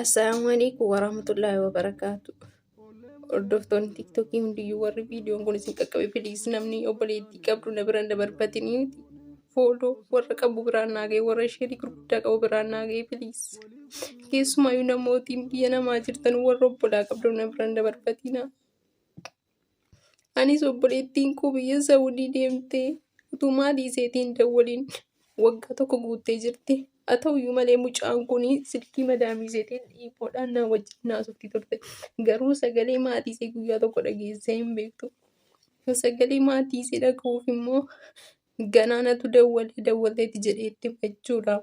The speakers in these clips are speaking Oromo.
Assalaamu alaikum warahmatullahi wabarakaatu. Hordoftoonni tiktookii hundiyyuu warri viidiyoon kun isin qaqqabe piliis namni obboleettii qabdu na bira hin dabarfatini. Fooloo warra qabu biraan naa ga'e warra isheetii gurguddaa qabu biraan naa ga'e piliis. Keessumaayyuu namootiin biyya namaa jirtan warra obbolaa qabdu na bira hin dabarfatina. Anis obboleettiin koo biyya Saawudii deemtee utuu maatii isheetii hin dawwaliin waggaa tokko guuttee jirti. Haa ta'uyyuu malee mucaan kun silkii madaamii isheetiin dhiiboodhaan naa wajjin haasofti turte. Garuu sagalee maatii ishee guyyaa tokko dhageessee hin beektu. Sagalee maatii ishee dhaga'uuf immoo ganaanatu dawwalee dawwaleeti jedheetti jechuudha.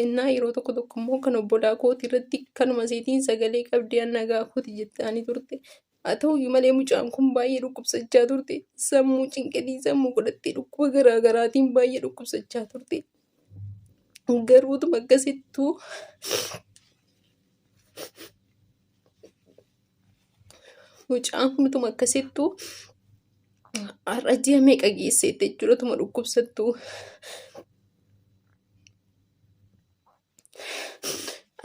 Ennaa yeroo tokko tokko immoo kan obbolaa kooti irratti kanuma seetiin sagalee qabdee anna gaafuuti jettaani turte. Haa ta'uyyuu malee mucaan kun baay'ee dhukkubsachaa turte. Sammuu cinqinii sammuu godhattee dhukkuba garaa garaatiin baay'ee dhukkubsachaa turte. Garuu utuma akkasittuu Mucaan kun utuma akkasittuu har'a ji'a meeqa geesseetti jechuudha utuma dhukkubsattuu.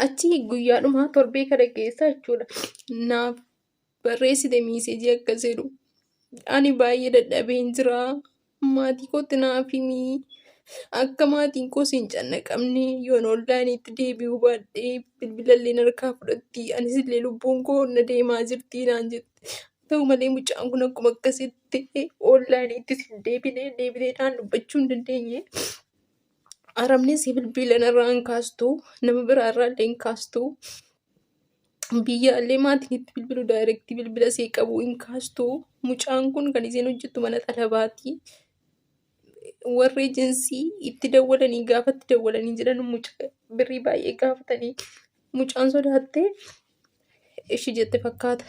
Achi guyyaadhuma torbee kana keessa jechuudha naaf barreessite miisejii akka jedhu ani baay'ee dadhabeen jiraa. Maatii kootti naaf himii. Akka maatiin koo siin cannaqamne yoon onlaayiniitti deebi'uu baadhe bilbila illee harkaa fudhatti anis illee lubbuun koo na deemaa jirti naan jette. Ta'u malee mucaan kun akkuma akkasitti onlaayiniitti siin deebine deebitee naan dubbachuu hin dandeenye. Arabni si bilbila narraa hin kaastu nama biraa irraa illee hin kaastu. biyyaallee maatiin itti bilbilu daayireektii bilbila ishee qabu hin kaastu. Mucaan kun kan isheen hojjettu mana xalabaati. Warri eejensii itti dawwalanii gaafa itti dawwalanii jedhan mucaa birrii baay'ee gaafatanii mucaan sodaattee ishii jette fakkaata.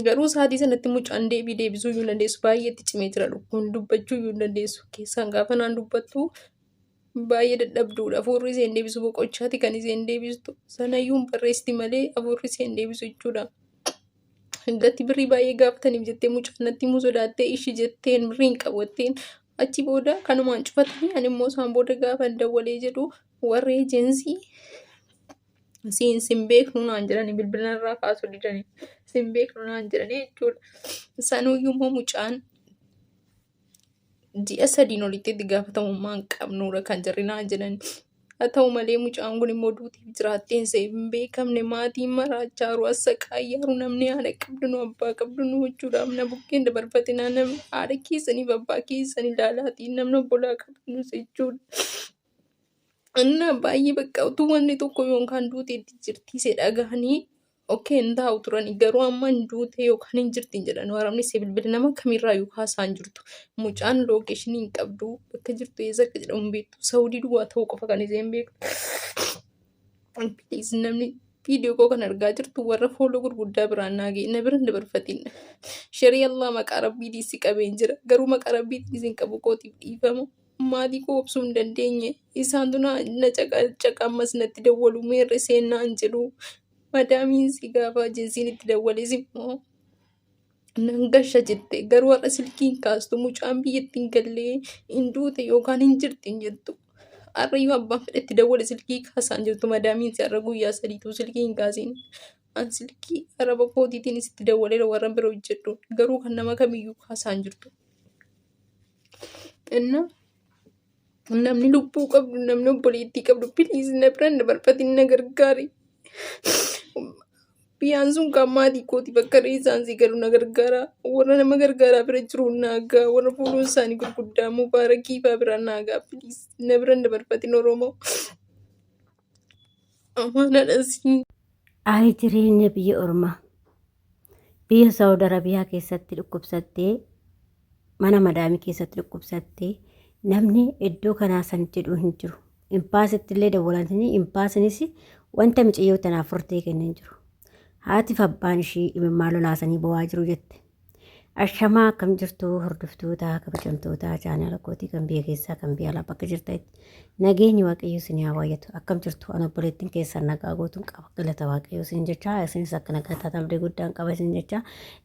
Garuu sa'aatii sanatti mucaan deebii deebisuu iyyuu hin dandeessu. Baay'ee itti cimee jira lukkuun dubbachuu iyyuu hin dandeessu. Keessaan gaafa naan dubbattu Baay'ee dadhabduudha. Afuurri isheen deebisu boqochaati kan isheen deebistu. Sanayyuu hin barreessiti malee afuurri isheen deebisu jechuudha. Gatti birrii baay'ee gaafataniif jettee mucaan natti himuu sodaattee ishi jetteen birrii hin qabu jetteen. Achi booda kanumaan cufatanii ani immoo isaan booda gaafa dawwalee jedhu warri eejensii siin sin beeknu naan jedhani bilbila irraa kaasuu didani sin beeknu naan jedhani jechuudha. Sanuyyuu immoo mucaan ji'a sadiin olitti itti gaafatamummaa hin qabnuudha kan jarri naan jedhan. Haa ta'u malee mucaan kun immoo duutiif jiraatteen isa hin beekamne maatiin maraachaa jiru as saqaayyaa jiru namni haadha qabdu nu abbaa qabdu nu huccuudhaaf na bukkeen dabarfate naa namni haadha keessaniif abbaa keessan ilaalaatii namni obbolaa qabdu nu jechuudha. Innaa baay'ee bakka utuu wanni tokko yookaan duuti itti jirtiise dhagahanii ok hin taa'u turani garuu amma hin duute yookaan hin jirti hin jedhan waraabni si bilbila nama kamirraa yuu haasaa hin jirtu mucaan lookeeshinii hin qabdu bakka jirtu eessa akka jedhamu hin beektu saawudii duwwaa ta'uu qofa kan isheen beektu Please, namni viidiyoo koo kan argaa jirtu warra fooloo gurguddaa biraan naa ga'e na bira hin dabarfatin sharii allah maqaa rabbii diisi qabeen jira garuu maqaa rabbii diisi hin qabu kootiif dhiifama Maatii koo obsuu hin dandeenye. Isaantu na caqacaqa ammas natti dawwalu meerre seennaa hin jedhu. Madaamiin si gaafa ajensiin itti dawwales immoo nan gasha jette garuu har'a silkii hin kaastu mucaan biyyatti hin gallee hin duute yookaan hin jirti hin jettu. Har'a yoo abbaan fedhe itti dawwale silkii kaasaa hin jirtu madaamiin si har'a guyyaa sadiitu silkii hin kaasiin. An silkii araba kootiitiin sitti dawwaleera warra bira hojjedhu garuu kan nama kamiyyuu kaasaa hin jirtu. Innaa namni lubbuu qabdu namni obboleettii qabdu piliis na bira na barbaadin na gargaari. Biyyaan sun kan maatii kooti bakka reessaan si galu na gargaara. Warra nama gargaaraa bira jiru na gaa warra fuuluun isaanii gurguddaa mubaarakii fa'aa bira na gaa piliis na bira na barbaadin Oromoo. Amaanaadha siin. Ayi jireenya biyya ormaa. Biyya Saawud Arabiyaa keessatti dhukkubsattee mana madaamii keessatti dhukkubsattee namni iddoo kanaa san jedhu hin jiru. Impaasitti illee dawwalatanii impaasinis wanta miciyyoo tanaaf furtee kenne hin jiru. Haatiif abbaan ishii imimmaan lolaasanii bo'aa jiru jette. Ashamaa akkam jirtu hordoftoota kabajamtoota chaanala kootii kan biyya keessaa kan biyya alaa bakka jirtanitti nageenyi waaqayyo isin haa baay'atu akkam jirtu an obboleettiin keessan nagaa gootuun qaba galata waaqayyo isin jecha isinis akka nagaa taatan abdii guddaan qaba isin jecha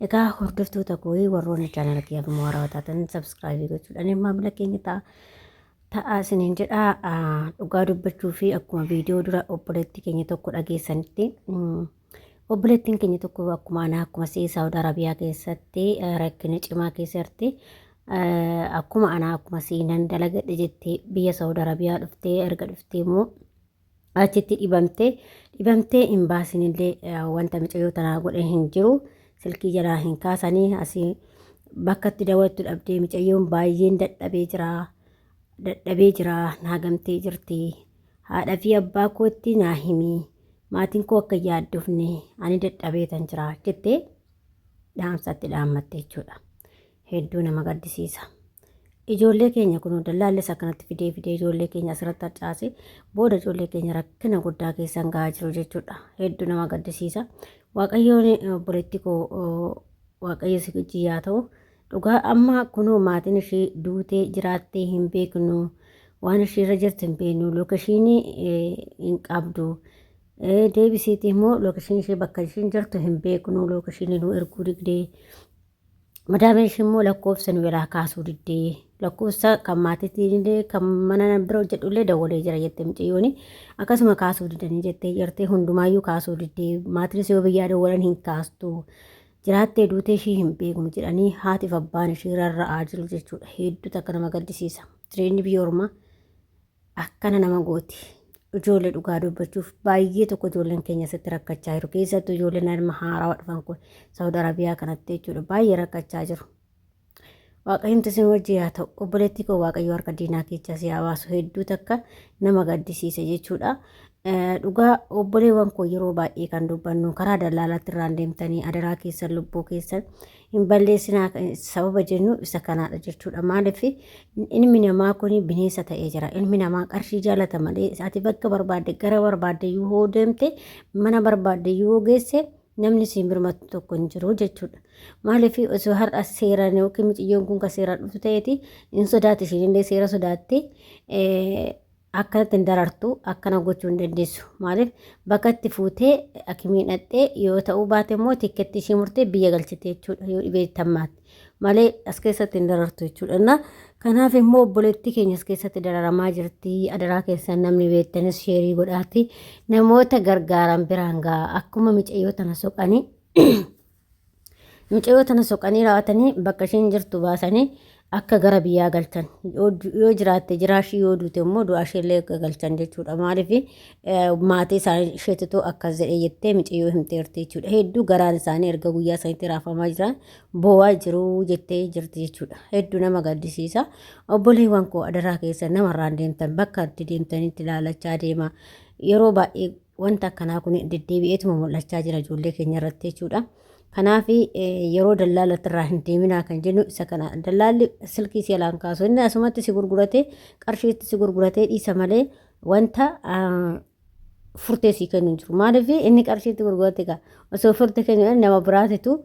egaa hordoftoota kooyii warroonni chaanala kiyya akkuma warra taatan sabskraayibii gochuudhaan maamila keenya ta'a. Ta'a isiniin jedha dhugaa dubbachuu fi akkuma viidiyoo dura obboleettii keenya tokko dhageessanitti Obboleettiin keenya tokko akkuma anaa akkuma si'ii Saawud Arabiyaa keessatti eh, rakkina cimaa keessa jirti. Eh, Akkuma anaa akkuma si'ii nan dalagadhe jettee biyya Saawud Arabiyaa dhuftee erga dhuftee immoo achitti dhibamtee dhibamtee hin baasinillee eh, wanta micayyoo tanaa godhe hin jiru silkii jalaa hin kaasanii asii bakka itti daawwattu dhabdee micayyoon baay'een dadhabee jira dadhabee jira naa gamtee jirti haadha fi abbaa kootti naa himii maatiin koo akka hin yaaddofne ani dadhabeetan jira jettee dhaamsatti dhaammatte jechuudha. Hedduu nama gaddisiisa. Ijoollee keenya kun dallaallis akkanatti fidee fidee ijoollee keenya asirratti harcaase booda ijoollee keenya rakkina guddaa keessan gahaa jiru jechuudha. Hedduu nama gaddisiisa. Waaqayyoon obboleetti koo waaqayyo si wajjin yaa ta'u Dhugaa amma kunoo maatiin ishii duutee jiraattee hin beeknu waan ishii irra jirtu hin beeknu lookeshiinii hin qabdu deebisiitii immoo lookeshiinii ishii bakka ishiin jirtu hin beeknu lookeshiinii nu erguu didee madaamee ishii immoo lakkoofsa nu biraa kaasuu didee lakkoofsa kan maatiitiin illee kan mana bira hojjedhu illee dawwalee jira jette mucayyooni akkasuma kaasuu didanii jettee jirti hundumaayyuu kaasuu didee maatiinis yoo biyyaa dawwalan hin kaastu Jiraattee duutee ishii hin beeknu jedhanii haatiif abbaan ishii rarra'aa jiru jechuudha. Hedduu takka nama gaddisiisa. Jireenyi biyya ormaa akkana nama gooti. Ijoollee dhugaa dubbachuuf baay'ee tokko ijoolleen keenya asitti rakkachaa jiru. Keessattuu ijoolleen ilma haarawaa dhufan kun Saawud Arabiyaa kanatti jechuudha baay'ee rakkachaa jiru. Waaqayyumti isin wajji yaa ta'u obboleettii koo waaqayyo harka diinaa keechaa si hawaasu hedduu takka nama gaddisiisa jechuudha. Dhugaa obboleewwan koo yeroo baay'ee kan dubbannu karaa dallaalaatti irraan deemtanii adaraa keessan lubbuu keessan hin balleessinaa sababa jennu isa kanaadha jechuudha. Maaliif ilmi namaa kun bineensa ta'ee jira. Ilmi namaa qarshii jaalata malee ati bakka barbaadde gara barbaadde yoo deemte mana barbaadde yoo geesse namni siin birmatu tokko hin jiru jechuudha. Maaliif osoo har'a seeraan yookiin miciyyoon kun kan seeraan dhuftu ta'eeti hin sodaatti isheen illee seera sodaatte akkanatti hin darartu akkana gochuu hin dandeessu. Maaliif bakka itti fuutee akimiin dhaqxee yoo ta'uu baate immoo tikketti ishee murtee biyya galchite jechuudha yoo dhibee tammaatti. malee as keessatti hin darartu jechuudha. Innaa kanaaf immoo obboleettii keenya as keessatti dararamaa jirti. Adaraa keessan namni beektanis sheerii godhaati. Namoota gargaaran biraan ga'a. Akkuma micayyoo tana soqanii micayyoo tana soqanii raawwatanii bakka isheen jirtu baasanii akka gara biyyaa galchan yoo du- yoo jiraatte jiraashii yoo duute immoo du'a isheellee akka galchan jechuudha maaliif maatii isaanii isheetitu akkas jedhe jettee micayyoo himteerti jechuudha hedduu garaan isaanii erga guyyaa sanitti raafamaa jiran boo'aa jiru jettee jirti jechuudha. Hedduu nama gaddisiisa. Obboleewwan koo adaraa keessa namarraan deemtan bakka itti deemtanitti laalachaa deema. Yeroo baay'ee wanta akkanaa kun deddeebi'eetuma mul'achaa jira ijoollee keenya irratti jechuudha. Kanaaf yeroo dallaalatti irraa hin deeminaa kan jennu isa kana dallaalli silkii si alaan kaasu inni asumatti si gurguratee qarshiitti si gurguratee dhiisa malee wanta furtee sii kennu hin jiru. Maaliif inni qarshiitti gurgurate gaa osoo furte kennu nama biraatitu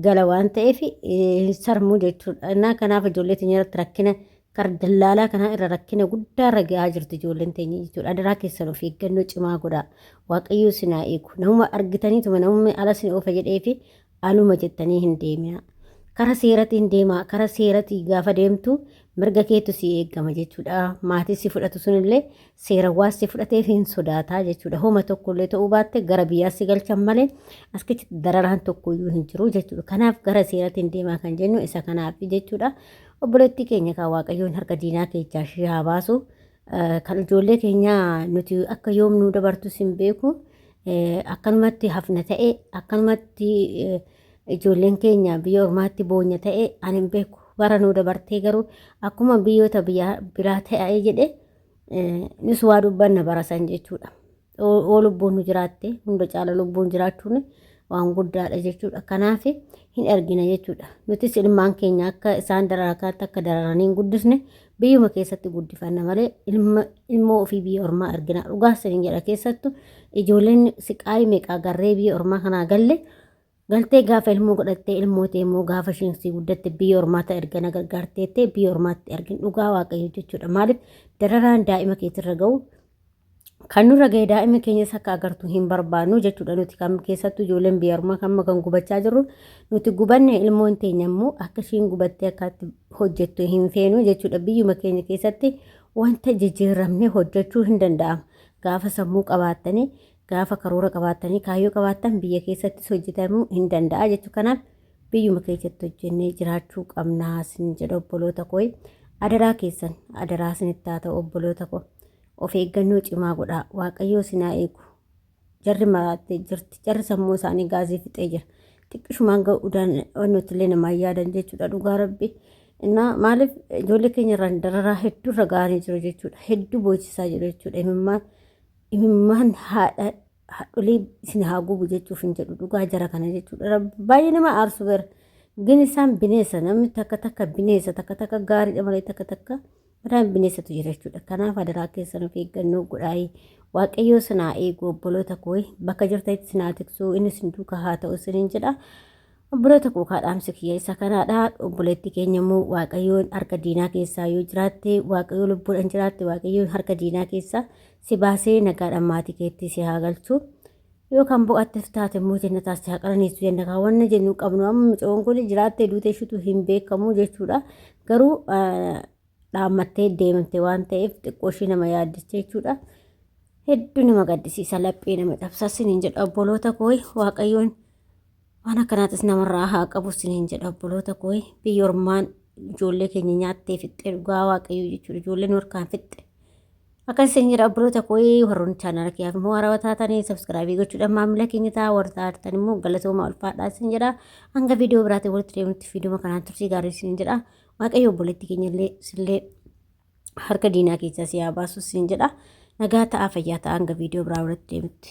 gala waan ta'eef hin sarmuu jechuudha. Innaa kanaaf ijoollee teenya irratti rakkina kar dallaalaa kanaa irra rakkina guddaa irra gahaa jirti ijoolleen teenya jechuudha. Adaraa keessan of eeggannoo cimaa godhaa. Waaqayyoo sinaa eegu. Namuma argitaniituma namumni ala sin oofa jedhee fi Anuma jettanii hin deemina. Kara seeratiin deemaa. Kara seeratii gaafa deemtu mirga keetu si eegama jechuudha. Maatii si fudhatu sunillee seerawwaan si fudhateef hin sodaataa jechuudha. Homa tokkollee ta'uu baatte gara biyyaa si galchan malee as keessatti dararaan tokkoyyuu hin jiru jechuudha. Kanaaf gara seeratiin deemaa kan jennu isa kanaaf jechuudha. Obboleettii keenya kaa waaqayyoon harka diinaa keechaa ishee haa baasu. Kan ijoollee keenyaa nuti akka yoom nu dabartus hin beeku. Akkanumatti hafna ta'e akkanumatti ijoolleen keenya biyya ormaatti boonya ta'e ani hin beeku. Bara nu dabartee garuu akkuma biyyoota biraa ta'e jedhe nus waa dubbanna barasan jechuudha. Yoo lubbuun nu jiraatte hunda caala lubbuun jiraachuun waan guddaadha jechuudha. Kanaaf hin argina jechuudha. Nutis ilmaan keenya akka isaan daraakaatti akka dararanii hin guddisne biyyuma keessatti guddifanna malee ilma ilmoo ofii biyya ormaa argina. Dhugaa saniin jedha keessattu ijoolleen siqaayii meeqaa garree biyya ormaa kanaa galle Galtee gaafa ilmoo godhattee ilmoo ta'e immoo gaafa isheen sii guddatte biyya ormaata erga na gargaarteettee biyya ormaatti ergin dhugaa waaqayyo jechuudha. Maaliif dararaan daa'ima keetirra ga'u kan nurra ga'e daa'ima keenyas akka agartu hin barbaannu jechuudha nuti kan keessattuu ijoolleen biyya ormaa amma kan gubachaa jirru nuti gubanne ilmoon teenya immoo akka isheen gubattee akkaatti hojjettu hin feenu jechuudha biyyuma keenya keessatti wanta jijjiiramne hojjechuu hin danda'amu gaafa sammuu qabaattanii Gaafa karoora qabaattanii kaayyoo qabaattan biyya keessattis hojjetamuu hin danda'a jechuu kanaaf biyyuma keessatti hojjennee jiraachuu qabnaa sin jedha obboloota koo adaraa keessan adaraa sinitti haa ta'u obboloota koo of eeggannoo cimaa godhaa waaqayyoo sinaa eegu jarri maraattee jirti jarri sammuu isaanii gaazii fixee jira xiqqishumaan ga'uu nuti illee namaa yaadan jechuudha dhugaa rabbi innaa maaliif ijoollee keenya irraan dararaa hedduu irra ga'anii jiru jechuudha hedduu boochisaa jiru jechuudha imimmaan imimmaan haadha haadholii isin haa gubu jechuuf hin jedhu dhugaa jara kana jechuudha baay'ee nama aarsu bara gin isaan bineessa namni takka takka bineessa takka takka gaariidha malee takka takka mataan bineessatu jira jechuudha kanaaf adaraa keessan of eeggannoo godhaayii waaqayyoo sinaa eegu obboloota kooyi bakka jirtanitti sinaa tiksuu inni sin duuka haa ta'u isiniin jedha Obboloota koo kaadhaamsi kiyya isa kanaadha. Obboleetti keenya immoo Waaqayyoon harka diinaa keessaa yoo jiraatte, Waaqayyoo lubbuudhaan jiraatte, Waaqayyoon harka diinaa keessaa si baasee nagaadhaan maatii keetti si haa galchu. Yoo kan boqatte taate immoo jannataa si haa qananiisu jenna. Kan wanna jennu qabnu amma mucoon kun jiraattee duute ishiitu hin beekamu jechuudha. Garuu dhaammattee deemte waan ta'eef xiqqoo ishii nama yaaddicha jechuudha. Hedduu nama gaddisiisa laphee nama cabsa siniin jedha obboloota koo Waaqayyoon Waan akkanaatis namarraa haa qabu isiniin jedha obboloota koo biyya ormaan ijoollee keenya nyaattee fixxee dhugaa waaqayyoo jechuudha ijoolleen harkaan fixxe. Akkas isin jedha obboloota koo warroonni chaanaala kiyyaaf immoo haarawaa taatanii sabskraabii gochuudhaan maamila keenya ta'a warra taatan immoo galatoomaa ulfaadhaa isin jedha hanga viidiyoo biraatiin walitti deemutti viidiyoo kanaan tursii gaarii isin jedha waaqayyo obboleetti keenya illee sillee harka diinaa keessaa si haa baasu isin jedha nagaa ta'aa fayyaa ta'aa hanga viidiyoo biraa walitti deemutti.